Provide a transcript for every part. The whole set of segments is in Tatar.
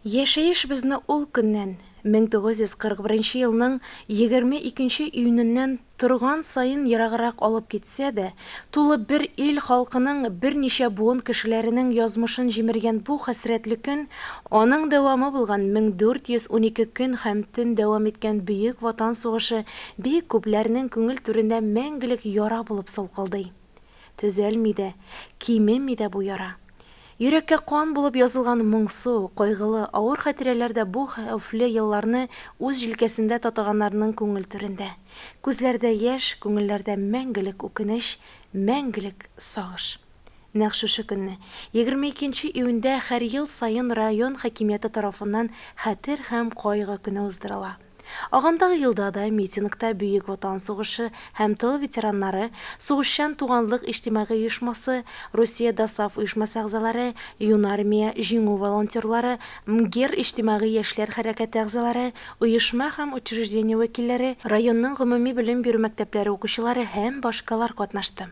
Яшәешебезне ул көннән, 1941 елның 22 нче июненнән торган саен ераграк алып китсә дә, тулы бер ил халкының, берничә буын кешеләренең язмышын җимергән бу хәсрәтле көн, аның дәвамы булган 1412 көн һәм төн дәвам иткән Бөек Ватан сугышы бик күпләрнең күңел түрендә мәңгелек яра булып салкылдый. Төзәлми дә, кимеми дә бу яра. Йөрәккә кан булып язылган моңсу, кайгылы, авыр хатирәләр дә бу хәвефле елларны үз җилкәсендә татыганнарның күңел түрендә. Күзләрдә яшь, күңелләрдә мәңгелек үкенеч, мәңгелек сагыш. Нәкъ шушы көнне, егерме икенче июньдә һәр ел саен район хакимияте тарафыннан Хәтер һәм кайгы көне уздырыла. Агымдагы елда да митингта Бөек Ватан сугышы һәм тыл ветераннары, Сугышчан туганлык иҗтимагый оешмасы, Русия ДОСААФ оешмасы әгъзалары, Юнармия, Җиңү волонтерлары, МГИР иҗтимагый яшьләр хәрәкәте әгъзалары, оешма һәм учреждение вәкилләре, районның гомуми белем бирү мәктәпләре укучылары һәм башкалар катнашты.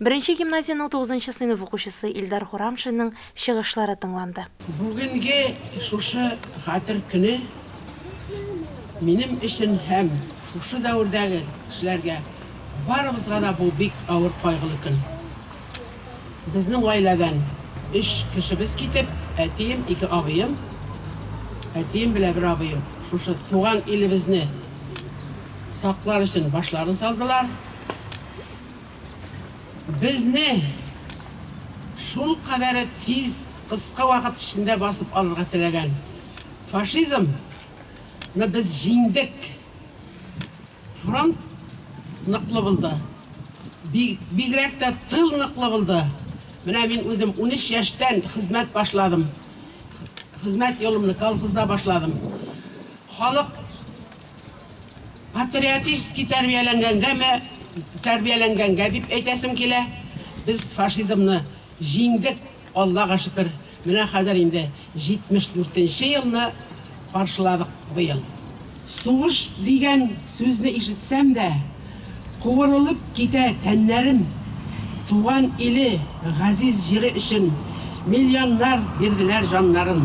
Беренче гимназиянең тугызынчы сыйныф укучысы Илдар Хурамшинның чыгышлары тыңланды. Бүгенге шушы Хәтер көне минем өчен һәм шушы дәвердәге кешеләргә, барыбызга да бу бик авыр кайгылы көн. Безнең гаиләдән өч кешебез китеп, әтием, ике абыем, әтием белән бер абыем шушы туган илебезне саклар өчен башларын салдылар. Безне шулкадәре тиз, кыска вакыт эчендә басып алырга теләгән фашизм ны без җиңдек. Фронт ныклы булды. Би бигрәк тә тыл ныклы булды. Менә мин үзем унөч яшьтән хезмәт башладым. Хезмәт юлымны колхозда башладым. Халык. Патриотически тәрбияләнгәнгәме, тәрбияләнгәнгә дип әйтәсем килә. Без фашизмны җиңдек, Аллага шөкер. Менә хәзер инде 74 нче елны каршыладык быел. Сугыш дигән сүзне ишетсәм дә, Куырылып китә тәннәрем, Туган иле, газиз җире өчен Миллионнар бирделәр җаннарын.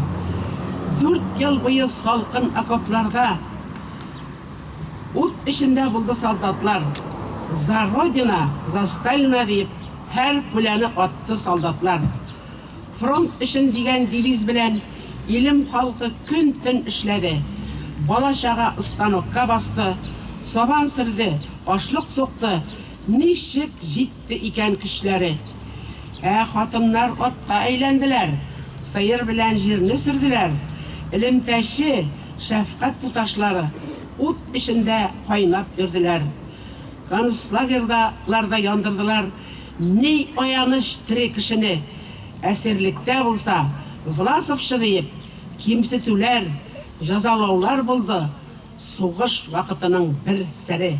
Дүрт ел буе салкын окопларда Ут эчендә булды солдатлар. За Родина, за Сталина диеп Һәр пуляны атты солдатлар. Фронт өчен дигән девиз белән илем халкы көн-төн эшләде. Бала-чага станокка басты, сабан сөрде, ашлык сукты. Ничек җитте икән көчләре! Ә хатыннар атка әйләнделәр, сыер белән җирне сөрделәр. Элемтәче, шәфкать туташлары ут эчендә кайнап йөрделәр. Концлагерьда лар да яндырдылар. Ни аяныч, тере кешене, әсирлектә булса, Власовчы диеп, кимсетүләр, җәзалаулар булды, сугыш вакытының бер сере.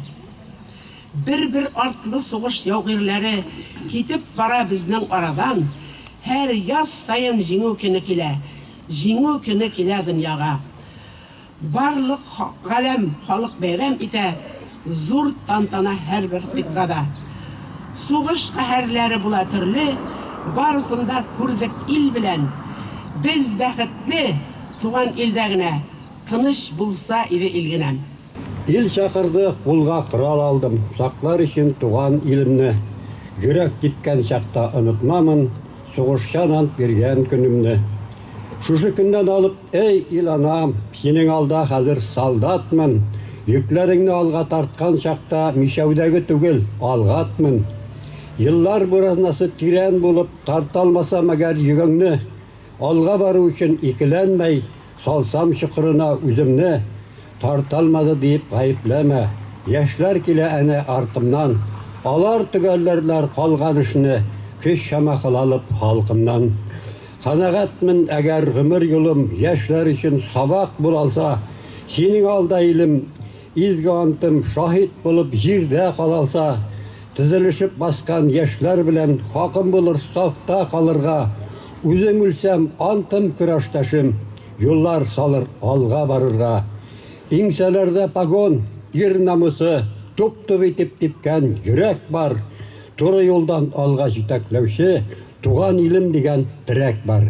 Бер-бер артлы сугыш яугирләре китеп бара безнең арадан, һәр яз саен Җиңү көне килә, Җиңү көне килә дөньяга. Барлык галәм халык бәйрәм итә Зур тантана һәрбер кыйтгада. Сугыш каһәрләре була төрле, Барысын да күрдек ил белән. Без бәхетле, туган илдә генә, Тыныч булса иде ил генәм. Ил чакырды, кулга корал алдым, Саклар өчен туган илемне. Йөрәк типкән чакта онытмамын, Сугышчан ант биргән көнемне. Шушы көннән алып, эй, ил-анам, синең алда хәзер солдатмын, йөкләреңне алга тарткан чакта мишәүдәге түгел, алгатмын. Еллар буразнасы тирән булып, тарталмаса мәгәр йөгеңне, алга бару өчен икеләнмәй, Салсам чокырына үземне, тарталмады диеп гаепләмә. Яшьләр килә әнә артымнан, алар төгәлләрләр калган эшне, көч чама кылалып халкымнан. Канәгатьмен, әгәр гомер юлым яшьләр өчен сабак булалса, синең алда илем, Изге антым шаһит булып җирдә калалса, тезелешеп баскан яшьләр белән хакым булыр сафта калырга, үзем үлсәм, антым көрәштәшем юллар салыр алга барырга, иңсәләрдә погон, ир намусы туп-туп итеп типкән йөрәк бар, туры юлдан алга җитәкләүче туган илем дигән терәк бар.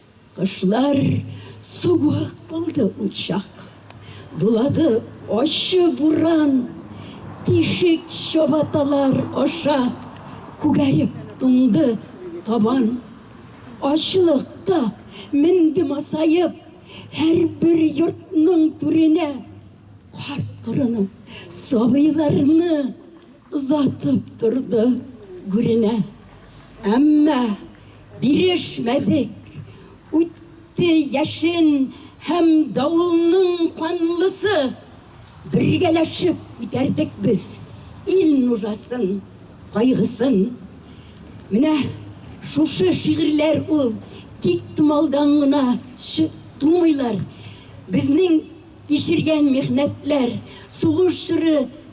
Кышлар суык булды учак. Дулады ачы буран. Тишек чабаталар аша Күгәреп туңды табан. Ачлыкта менде масаеп Һәрбер йортның түренә. Карт-корыны, сабыйларны. Озатып торды гүренә. Әмма бирешмәдек. Үтте яшен һәм давылның канлысы. Бергәләшеп күтәрдек без ил нужасын, кайгысын. Менә шушы шигырьләр ул, тик томалдан гына тумыйлар. Безнең кичергән михнәтләр, сугыш чоры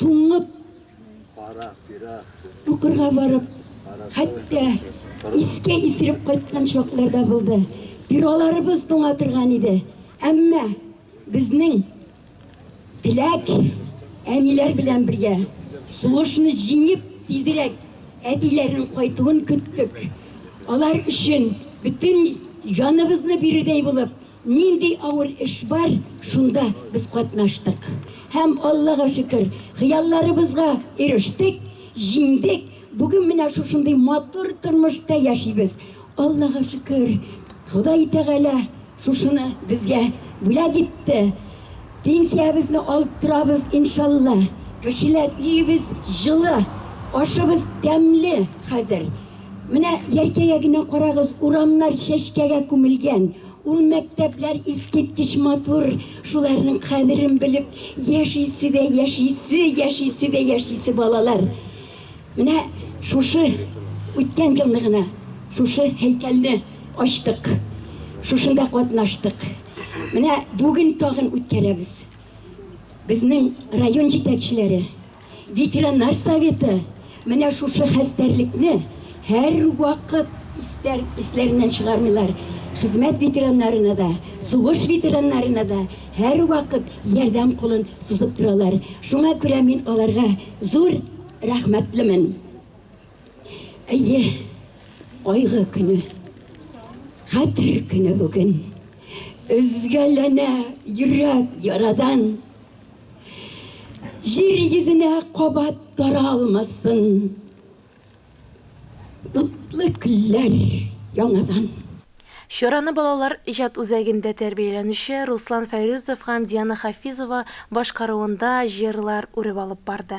туңып, укырга барып, хәтта искә исереп кайткан чаклар да булды. Бюроларыбыз туңа торган иде. Әмма безнең теләк әниләр белән бергә сугышны җиңеп, тизрәк әтиләрнең кайтуын көттек. Алар өчен бөтен җаныбызны бирердәй булып, Нинди авыр эш бар, шунда без катнаштык. Һәм, Аллага шөкер, хыялларыбызга ирештек, җиңдек. Бүген менә шушындый матур тормышта яшибез. Аллага шөкер, Ходай Тәгалә шушыны безгә бүләк итте. Пенсиябезне алып торабыз, иншалла. Кешеләр, өебез җылы, ашыбыз тәмле хәзер. Менә Яркәйгә генә карагыз, урамнар чәчкәгә күмелгән. Ул мәктәпләр искиткеч матур, шуларның кадерен белеп яшисе дә яшисе, яшисе дә яшисе балалар. Менә шушы үткән елны гына шушы һәйкәлне ачтык. Шушында катнаштык. Менә бүген тагын үткәрәбез. Безнең район җитәкчеләре Ветеринар советы менә шушы хәстәрлекне һәр вакыт истәр, исләреннән чыгармыйлар. Хезмәт ветераннарына да, сугыш ветераннарына да һәр вакыт ярдәм кулын сузып торалар. Шуңа күрә мин аларга зур рәхмәтлемен. Әйе, кайгы көне, хәтер көне бүген. Өзгәләнә йөрәк ярадан. Җир йөзенә кабат таралмасын. Утлы көлләр яңадан. Чараны балалар иҗат үзәгендә тәрбияләнүче Руслан Фәйрүзов һәм Диана Хафизова башкаруында җырлар үреп алып барды.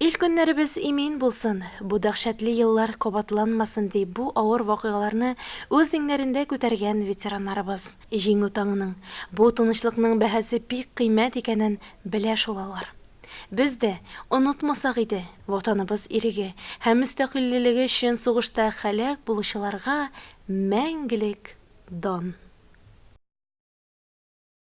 Ил көннәребез имин булсын, бу дәһшәтле еллар кабатланмасын, ди бу авыр вакыйгаларны үз иңнәрендә күтәргән ветераннарыбыз. Җиңү таңының, бу тынычлыкның бәһасе бик кыйммәт икәнен белә шул алар. Без дә, онытмасак иде, Ватаныбыз иреге һәм мөстәкыйльлелеге өчен сугышта һәлак булучыларга мәңгелек дан!